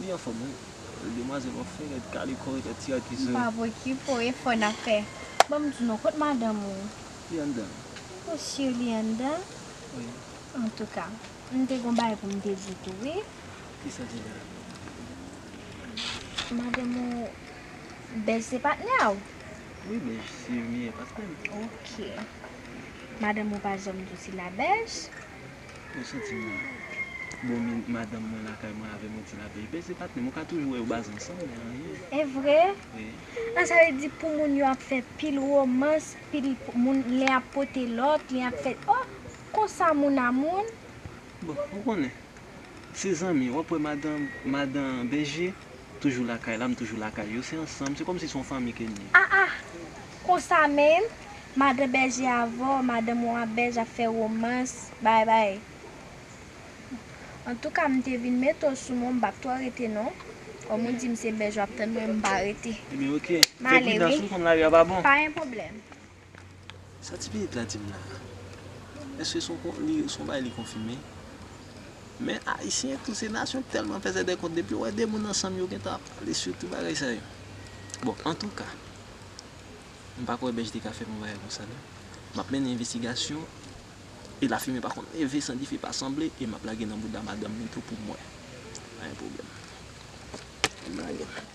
Li anfom wi. Demwazel wap fe red kale kò ret ti a kize. Mpa wè ki fo efò nap fè. Banm di non kot madanm ou. Li anndan. Ou sur li anndan? Wi. Antouka. Mte gon bagay poum te di tou wi. Kisa se sa? Madanm ou Bèj se patnè a ou? Wi Bèj se meyè patnèm. Ok. Madanm ou pa janm di w si la Bèj? Mwen santi m bon men madanm mwen lakay mwen avè mwen ti la peyi pè se patnè m ou ka toujou wè yo baze ansanm men anyen. Evre? Wi. Ah sa vle di pou moun yo ap fè pil romans pil moun len ap pote lòt len ap fè oh konsa moun a moun. Bon ou konnen se zanmi wap wè madan madan bèje Toujou lakay la m toujou lakay yo se ansanm se kòmsi se yon fanmi ke n ye. Ah ah konsa menm madan bèje avw madanm ou a bèj ap fè romans bay bay antouka m te vin mete w sou men w m pap twò rete non kòm ou di m se bèj wap tann mwen m pa rete Ebyen ok fè prudans wi pa gen pwoblèm. Sa ti pitit la dim la. Eske son bagay li konfime. Men ayisyen tou se nasyon telman fè zèdè kont depi yo wè 2 moun ansanm yo gentan ap pale sou tou bagay sa yo. Bon antouka m pa kwè Bech te ka fè m yon bagay konsa non. Map mennen envestigasyon e lafimen pa konn leve san dife pa sanble e map lage nan bouda madanm li tou poum wè. Pa gen pwoblèm. Map lage.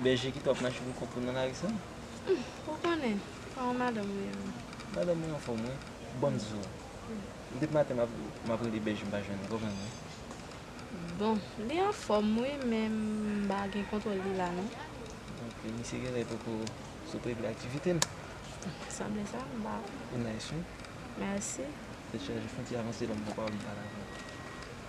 Bèje ki twòp nan cheve kout ou nan lari sa? Humm ou konnen, pa yon madanm ou ye menm. Madanm mwen anfòm wi, banm zo. Depi maten map rele Bèje mpa jwenn li, konprann mwen. Bon, li anfòm wi men mpa gen kontwòl li la non. Ok, misye genlè poko sot regle aktivite l. Sanble sa, mpa wè. Ou nice wi. Merci. Tèt chaje, fon ti avanse lòm nan pawòl mpa dakò.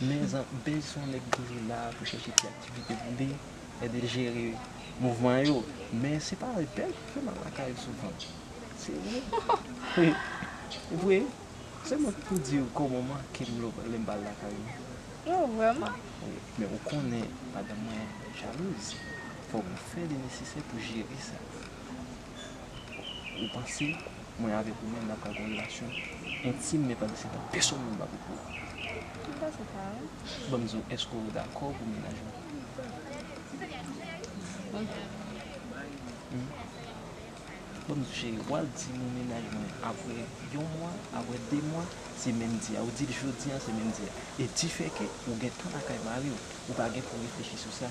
Menzan Bez son nèg toujou la pou chèche ti aktivite pou li ede jere mouvman yo men se pa avèk pèp li mal lakay souvan se vre wi vre se mwen ki pou diw kòman mankem lèm pral lakay li oh vrèman men ou konnen madanm mwen jalouz fòk mwen fè li nesesè pou jere sa. Ou panse mwen avèk ou menm n ap ka gen yon relasyon entim men pandan se tan pèsonn moun pa pou kou a? Ou panse sa wi. Ban m di w, èske w dakò pou mennaj mwen? Ban m di w cheri, w al di m ou mennaj mwen apre yon mwa, apre de mwa, se menm di a. Ou di l jodi an, se menm di a. E difèke ou gen tan lakay mari w, ou pa gen pou w reflechi sou sa.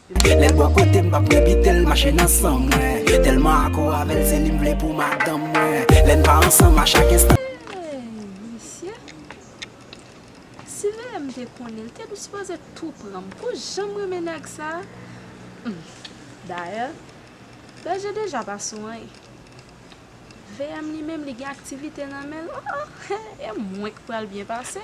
Lèl bò kotem m pap evitel mache nan san mwen Telman akò avèl se li m vle pou madanm mwen Lèn pa ansanm a chak enstan Hey misye Si VM te konnen li te tou sipoze tou pranm pou janm renmen nèg sa humm dayè Berger deja pa sou anyn VM li menm li gen aktivite nan menl oh oh e mwen k pral byen pase.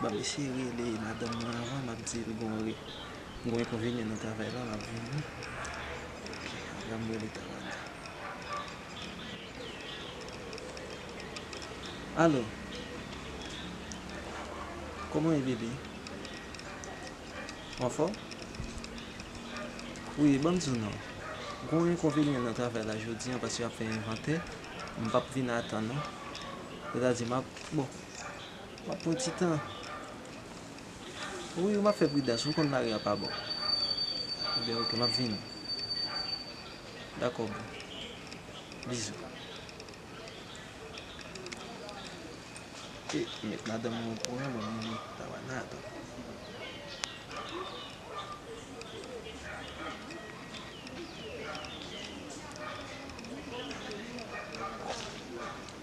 Banm eseye rele madanm nan avan map dil gon enkonvenyen nan travay la lap vini ok anvan m rele Tawanda Alo Koman w ye bebe Ou anfòm Wi banm di w non gon enkonvenyen nan travay la jodi an paske yap fè envantè m pap vin atan non sètadi map bon. Wap pran ti tan wi ou map fè pridans ou konn mari an pa bon ebyen ok map vini dakò boo bizou eh met madanm mwen okouran mwen menm mwen ta wè nan atann.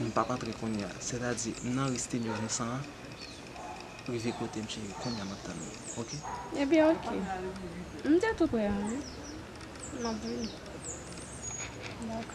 M pap antre kounya sètadi m nan reste 1900 an rive kotem cheri kounya map tann ou ok. Ebyen ok m te tou prè an wi map vini dako.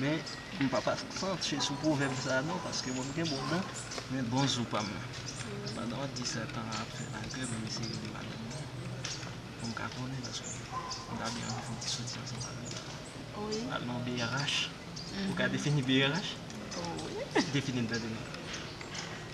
Men m pap aksantye sou pwovèb sa a non paske mwen m gen bon dan men bon zo pa m nan. Pandan w ap di sètan an ap fè lagè m ap eseye li madanm nan pou m ka konnen paske m ta byen anvi fè yon ti soti ansanm avè l. Al nan brh ou ka defini brh? Defini l tande non.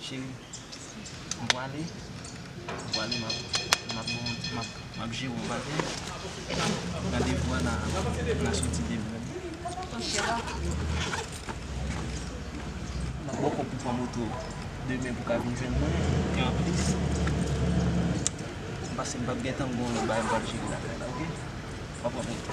Cheri, m pwale, m pwale map jere yon bagay. Randevou a nan soti demen. Map bòkò pou pran moto demen pou w ka vin jwenn mwen. E anplis, m panse m pap gentan gen yon bagay m pral jere lakay la, ok? Map pran moto.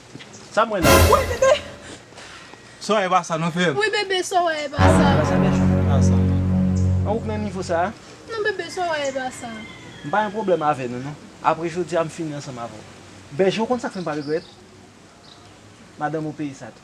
Sa mwen la. Woy bebe. Soraya epa sa non frem. Wi bebe soraya epa sa. Epa sa bejou epa sa. An ou k nan nivo sa. Non bebe soraya epa sa. M pa gen pwoblem ave nou non. Apre jodia m fini ansanm ave w. Bejou ou konn sak fem pa regret. Madanm ou peye sa tou.